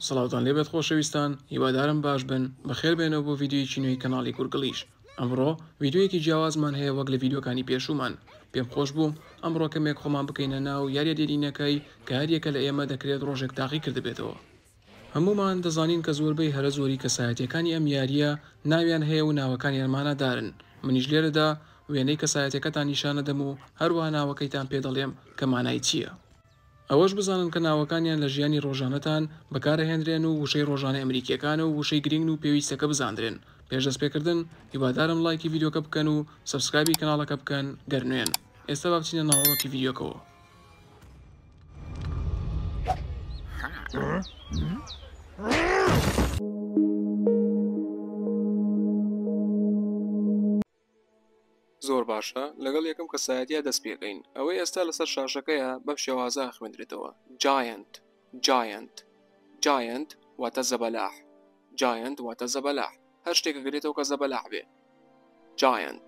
سڵاوتان لێبێت خۆشەویستان هیوادارم باش بن بەخێربێنەوە بۆ ڤیددیویەکی نوێی کەناڵی گورگڵیش ئەمڕۆ ڤیددیویەکی جیاوازمان هەیە وەک لە ڤیددیوکانی پێشومان پێم خۆش بوو ئەمڕۆ کەمێک خۆمان بکەینە ناو یاریە دێرینەکەی کە هەریەکە لە ئێمە دەکرێت ڕۆژێک تاقی کردبێتەوە هەموومان دەزانین کە زۆربەی هەرە زۆری کەسایەتیەکانی ئەم یاریە ناویان هەیە و ناوەکانیان مانادارن منیش لێرەدا وێنەی کەسایەتەکەتان نیشانەدەم و هەروەها ناوەکەیتان پێ دەڵێم کە مانای چیە ئەوەش بزانن کە ناوەکانیان لە ژیانی ڕۆژانەتان بەکارەهێنرێن و وشەی ڕۆژانە ئەمریکیەکانە و وشەی گرینگن و پێویستە کە بزاندرێن پێش دەست پێکردن هیوادارم ڵایکی ڤیدۆکە بکەن و سەبسکرایبی کەناڵەکە بکەن گەر نوێن ئێستا با بچینە ناوەڕۆکی ڤیدیۆکەوە. زۆر باشە لەگەڵ یەکەم کەسایەتیا دەست پێکەین ئەوەی ئێستا لەسەر شاشەکەیە بەم شێوازە خوێندرێتەوە جاینت جاینت جاینت واتە زەبەلاح جاینت واتە زەبەلاح هەر شتێکە گرێتەوە کە زەبەلاح بێ جاینت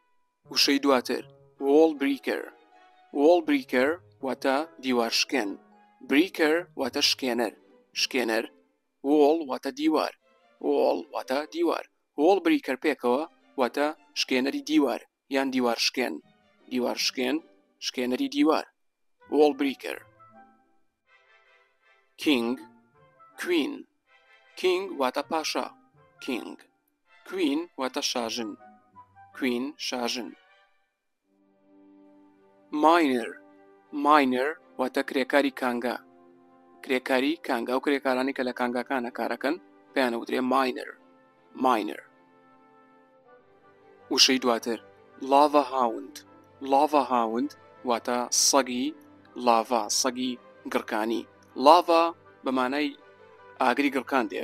وشەی دواتر وۆڵ بریکەر وۆڵ بریکەر واتە دیوار شکێن بریکەر واتە شکێنەر شکێنەر وۆڵ واتە دیوار وۆڵ واتە دیوار وۆڵ بریکەر پێکەوە واتە شکێنەری دیوار یان دیوار شکێن دیوار شکێن شکێنەری دیوار وۆڵ بریکەر کینگ کوین کینگ واتە پاشا کینگ کوین واتە شاژن کوین شاژن ماینەر ماینەر واتە کرێکاری کانگا کرێکاری کانگا و کرێکارانی کە لە کانگاکانە کارەکەن پێیانە وترێ ماینەر ماینەر وشەی دواتر لاڤە هاوند لاڤە هاوند واتە سەگی لاڤا سەگی گڕکانی لاڤا بەمانای ئاگری گڕکان دێ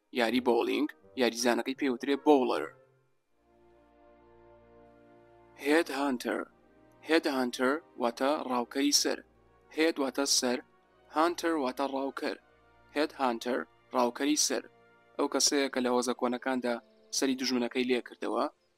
یاری بۆڵینگ یاریزانەکەی پێوترێ بۆڵەر هێد هانتەر هێد هانتەر واتە ڕاوکەری سەر هێد واتە سەر هانتەر واتە ڕاوکەر هێد هانتەر ڕاوکەری سەر ئەو کەسەیە کە لە هۆزە کۆنەکاندا سەری دژمنەکەی لێکردەوە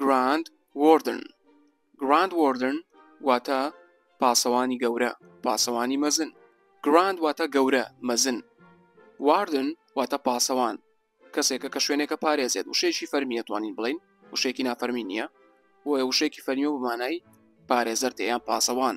گراند وۆردن گراند وۆردن واتە پاسەوانی گەورە پاسەوانی مەزن گراند واتە گەورە مەزن واردن واتە پاسەوان کەسێکە کە شوێنێکە پارێزێت وشێکی فەرمی ئەتوانین بڵین وشێکی نافەرمی نییە بۆیە وشێکی فەرمی و بمانای پارێزەر تێیان پاسەوان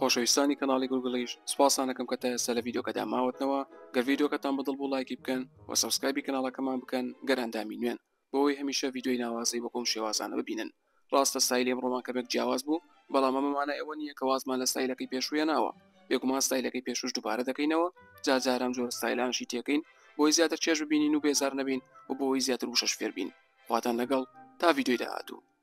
خۆشەویستانی کەناڵی گوگڵیش سوپاستان ئەکەم کە تا ئێستا لە ڤیدیۆکەدا ماوەتنەوە گەر ڤیدیۆکەتان بەدڵ بوو لایکی بکەن و سەبسکرایبی کەناڵەکەمان بکەن گەر ئەندامی نوێن بۆەوەی هەمیشە ڤیدیۆی ناوازەی وەکۆم شێوازانە ببینن ڕاستە ستایلی ئەمڕۆمان کەمێک جیاواز بوو بەڵام ئەمە مانای ئەوە نییە کە وازمان لە ستایلەکەی پێشوویە ناوە بێگومان ستایلەکەی پێشوش دووبارە دەکەینەوە جارجارم جۆر ستایلانشی تێکەین بۆی زیاتر چێژ ببینین و بێزار نەبین و بۆی زیاتر وشەش فێربین خواتان لەگەڵ تا ڤیدیۆی داهاتوو